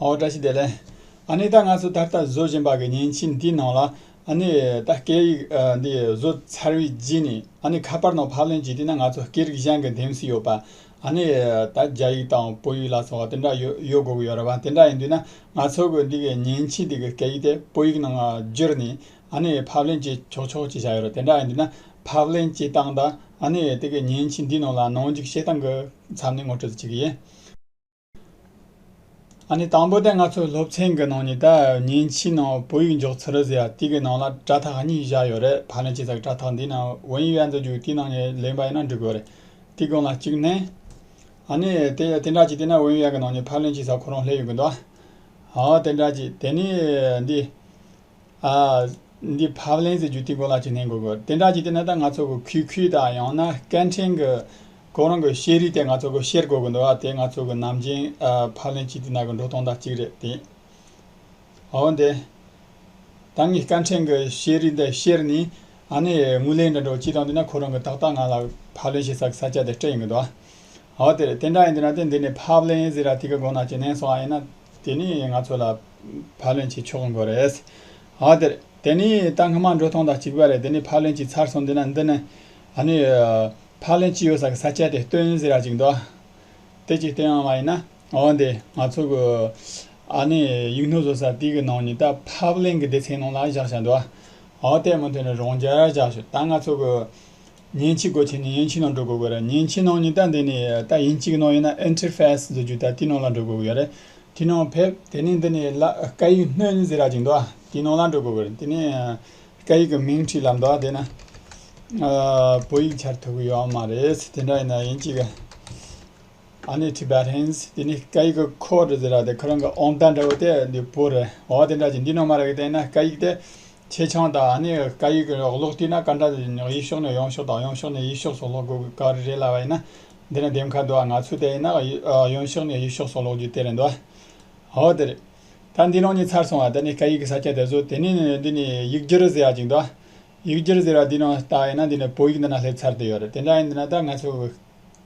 ཨོ་བཀྲ་ཤིས་བདེ་ལེགས། ཨ་ནེ་ད་ང་ཚོ་ད་ལྟ་བཟོ་བཞིན་པ་གི་ཉིན་གཅིག་འདི་ནང་ལ་ཨ་ནེ་ད་སྐད་ཡིག་འདི་བཟོ་ཚར་བའི་རྗེས་ནས་ཨ་ནེ་ཁ་པར་ནང་ཕབ་ལེན་བྱས་དུས་ན་ང་ཚོ་སྐད་རིགས་གཞན་གི་འདེམས་སུ་ཡོད་པ་ཨ་ནེ་ད་རྒྱ་ཡིག་དང་བོད་ཡིག་ལ་སོགས་དེ་འདྲ་ཡོད་ཡོད་དགོས་ཀྱི་ཡོད་རེད་བ་དེ་འདྲ་ཡིན་དུས་ན་ང་ཚོ་གི་འདི་གི་ཉིན་གཅིག་འདི་གི་སྐད་ཡིག་དེ་བོད་ཡིག་ནང་བསྒྱུར་ནས་ཨ་ནེ་ཕབ་ལེན་བྱེད་ཆོག་ཆོག་ཅིག་བྱ་ཡོད་རེད་དེ་འདྲ་ཡིན་དུས་ན་ཕབ་ལེན་བྱེད་སྟངས་ད་ཨ་ནེ་དེ་གི་ཉིན་གཅིག་འདི་ནང་ལ་ནང་འཇུག་བྱེད་སྟངས་གི་མཚམས་ནས་ངོ་སྤྲོད་ཅིག་གི་ཡིན། ཨ་ནི་དང་པོ་དེ་ང་ཚོའི་སློབ་ཚན་གྱི་ནང་ཉིད་དང་ཉིན་གཅིག་ནང་བོད་ཡིག་འཇོག་ཚུལ་རེད་ཟེར་ཡ་དེ་གི་ནང་ལ་དྲ་ཐག་གཉིས་བཞག་ཡོད་རེད་ཕ་ནི་ཅི་ཟེར་དྲ་ཐག་འདི་ནང་བོད་ཡིག་ཡལ་འདུག་རྒྱུག་དེའི་ནང་ནས་ལེན་པ་ཡིན་ན་འགྲིག་གོ་རེད་དེ་གོང་ལ་གཅིག་ནས། ཨ་ནི་དེ་དེ་འདྲ་གཅིག་དེ་ནས་བོད་ཡིག་ཡལ་གི་ནང་ནས་ཕ་ལེན་ཅི་ཟེར་ཁོ་རང་སླེབས་ཡོད་གི་འདུག་ཨ་ཨོ་དེ་འདྲ་གཅིག་དེ་ནས་འདི། ཨ། འདི་བབ་ལན་ཟེར་རྒྱུ་དེ་གོ་ལ་གཅིག་ནས་གོ་དགོས། དེ་འདྲ་གྱི་དེ་ནས་ད་ང་ཚོ་གི་གུས་གུས་དང་ཡང་ན་སྐད་འཕྲིན་གི་གོ་རང་གི་ཤེས་རིག་དེ་ང་ཚོ་གི་ཤེར་དགོས་གི་འདུག་ཨ་དེ་ང་ཚོ་གི་ནམ་རྒྱུན་བབ་ལན་གཅིག་དེ་ནང་གི་འགྲོ་སྟངས་དང་གཅིག་རེད་དེ། འོན་ཏེ། ད་ངས་སྐད་འཕྲིན་གི་ཤེས་རིག་དེ་ཤེར་ནས་ཨ་ནི་དངུལ་ལེན་དྲན་གྲོགས་གཅིག་དང་དེ་ནས་ཁོ་རང་གི་ཏག་ཏག་ང་ལ་བབ་ལན་བྱེད་ས་གི་ས་ཆ་དེ་སྤྲད་ཡོང་གི་འདུག་ཨ། འོ་དེ་རེད་དེ་འདྲ་ཡིན་དུས་ན་དེ་འདི་ནས་བབ་ལན་ཟེར་ར་དེ་གི་གོ་ན་གཅིག་ནས་སོང་ཨ་ཡིན་ན། དེ་ནི་ང་ཚོ་ལ་ཕ་ལོན་བྱེད་ཆོག་མགོ་རེད། ཨོ་དེར། དེ་ནི་ད་སྔ་མ་འགྲོ་ཐོང་དང་གཅིག་པ་རེད་དེ་ནི་ཕ་ལོན་གྱིས་ཚར་སོང་འདི་ན་འདི་ནི། ཨ་ནི། ཕ་ལོན་གྱིས་ཡོད་ས་གི་ས་སྐྱ་དེ་སྟོན་ཟེར་ཡག་གཅིག་འདུག། དེ་གཅིག་དེ་ཡང་མ་ཡིན་ན། ཨོ་དེ། ང་ཚོ་གི། ཨ་ནི་ཡིག་སྣོད་བཟོ་ས་དེ་གི་ནང་ནས་ད་ཕ་ལོན་གྱི་སྡེ་ཚན་ནང་ལ་བཞག་བཞག་འདུག། ཨོ་དེ་མུ་མཐུད་ནས་རང་རྒྱལ་བཞག་ཞོག་ད་ང་ཚོ་གི། ཉེན་ཆེ་སྒོ་ཆེ་ནས་ཡན་ཆི་ནང་འགྲོ་དགོས་ཀྱི་རེད་ཉེན་ཆེ་ནང་ཉི་ལྟ་འདི་ནས་ད་ཡིན་གཅིག་ནང་ཡིན་ན Enter Fast བཟོ་རྒྱུ་ད་དེ་ནང་ལ་འགྲོ་དགོས་ཀྱི་རེད་དེ་ནང་ཕེབས་དེ་ནས་འདི་ནས་ལ་ཀ་ཡིག་སྣོན་ཟེར་ར་ཅིག་འདུག་དེ་ནང་ལ་འགྲོ་དགོས་ཀྱི་རེད་དེ་ནས་ཀ་ཡིག་གི་མིང་བྲིས་ལ་འདུག་དེ་ན་བོད་ཡིག་འཆར་ཐུབ་ཀྱི་ཡོད་མ་རེད་དེ་འདྲ་ཡིན་ན་ཡིན་གཅིག་ཨ་ནེ Tibetans དེ་ནས་ཀ་ཡིག་གི Code ཟེར་ར་དེ་ཁོ་རང་གི་ཨོང་རྟ་འདྲ་བོ་དེ་འདི་བོད་རེད་འོ་དེ་འདྲ་ཅིག་འདི་ནང་མ་རེད་གི་དེ་ན་ཀ་ཡིག་དེ་ཆེ་ཆུང་དང་ནི་ཀ་ཡིག་གི་ཀློག་སྟེགས་ན་ཀ་འདྲ་ཡིན་ཡང་ཡིག་ཤོག་ནས་ཡོང་ཤོག་དང་ཡོང་ཤོག་ནས་ཡིག་ཤོག་སོགས་ཀློག་དགོས་ཀ་རེ་རེད་ལབ་པ་ཡིན་ན། འདི་ནི་འདེམས་ཁ་འདུག་ཨ་ང་ཚོས་དེ་ཡིན་ན་ཡོང་ཤོག་ནས་ཡིག་ཤོག་སོགས་ཀློག་རྒྱུ་དེ་རེད་འདུག་ཨ། འོ་དེ་རེད། ད་འདི་རང་ཉིད་ཚར་སོང་བ་དེ་ནི་ཀ་ཡིག་གི་ས་ཆ་དེ་ཚོ་དེ་ནི་འདི་ནི་ཡིག་སྒྱུར་ཟེར་བ་ཅིག་འདུག་ཡིག་སྒྱུར་ཟེར་བ་འདི་ནང་ལྟ་ཡིན་ན་འདི་ནི་བོད་ཡིག་འདི་ན་སླེབས་ཚར་དུ་ཡོད་རེད་དེ་འདྲ་ཡིན་འདི་ན་ད་ང་ཚོས།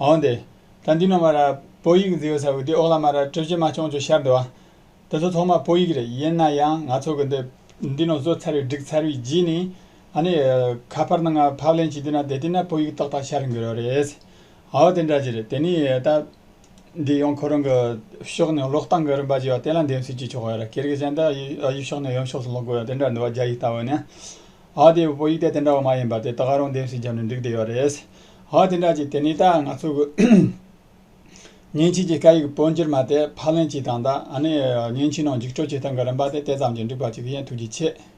འོན་ཏེ། ད་འདི་ནོར་མ་ར། བོད་ཡིག་མཛེས་ཡོད་ས་བོད་དེ་འོག་ལ་མ་ར་སྤྲོད་ཀྱི་མ་བྱུང་ཅུང་ཤར་འདུག་ཨ། འདི་ཚོ་ཐོག་མ་བོད་ཡིག་རེད་ཡིན་ན་ཡང་ང་ཚོ་གི་འདི། འདི་ནོར་བཟོ་ཚར་བའི་སྒྲིག་ཚར་བའི་རྗེས་ནས། ཨ་ནི། ཁ་པར་ནང་ཕབ་ལེན་བྱེད་དུས་ན་དེ་ལྟས་ན་བོད་ཡིག་ཏག་ཏག་ཤར་འགྱུར་རེད། འོ་དེ་འདྲ་ཅི་རེད་དེ་ནས་ད། འདི་ཡང་ཁོ་རང་གི། ཕྱོགས་ནས་ཀློག་སྟངས་གི་རིམ་པ་ཅིག་ཡོད་དེ་ལ་འདེམས་གསེས་ཀྱིས་ཆོག་གི་རེད་ཁྱེད་རིགས་གཞན་དག་ཡིག་ཕྱོགས་ནས་ཡུམ་ཕྱོགས་སུ་ཀློག་དགོས་ཡོད་དེ་འདྲ་འདུག་རྒྱ་ཡིག་ལྟ་བུ་ནི། འོ་དེ་བོད་ཡིག་དེ་དེ་འདྲ་བ་མ་ཡིན་པ་དེ་ད་ག་རང་འདེམས་གསེས་བརྒྱབ་ནས་འགྲིག་བསྡད་ཡོད་རེད། ཧོ་དེ་འདྲ་ཅིག་དེ་ནས་ད་ང་ཚོ་གི་ཉིན་བྱེད་ཀྱི་སྐད་ཡིག་སྤོ་འགྱུར་མ་དེ་ཕག་ལེན་གྱིས་དང་ད་ནི་ཉིན་བྱེད་ནང་འཇིགས་སྐྲོལ་བྱེད་སྟངས་ཀྱི་རིམ་པ་དེ་དེ་ཙམ་གྱིས་འགྲིག་པ་ཅིག་ཡིན་ཐུགས་རྗེ་ཆེ།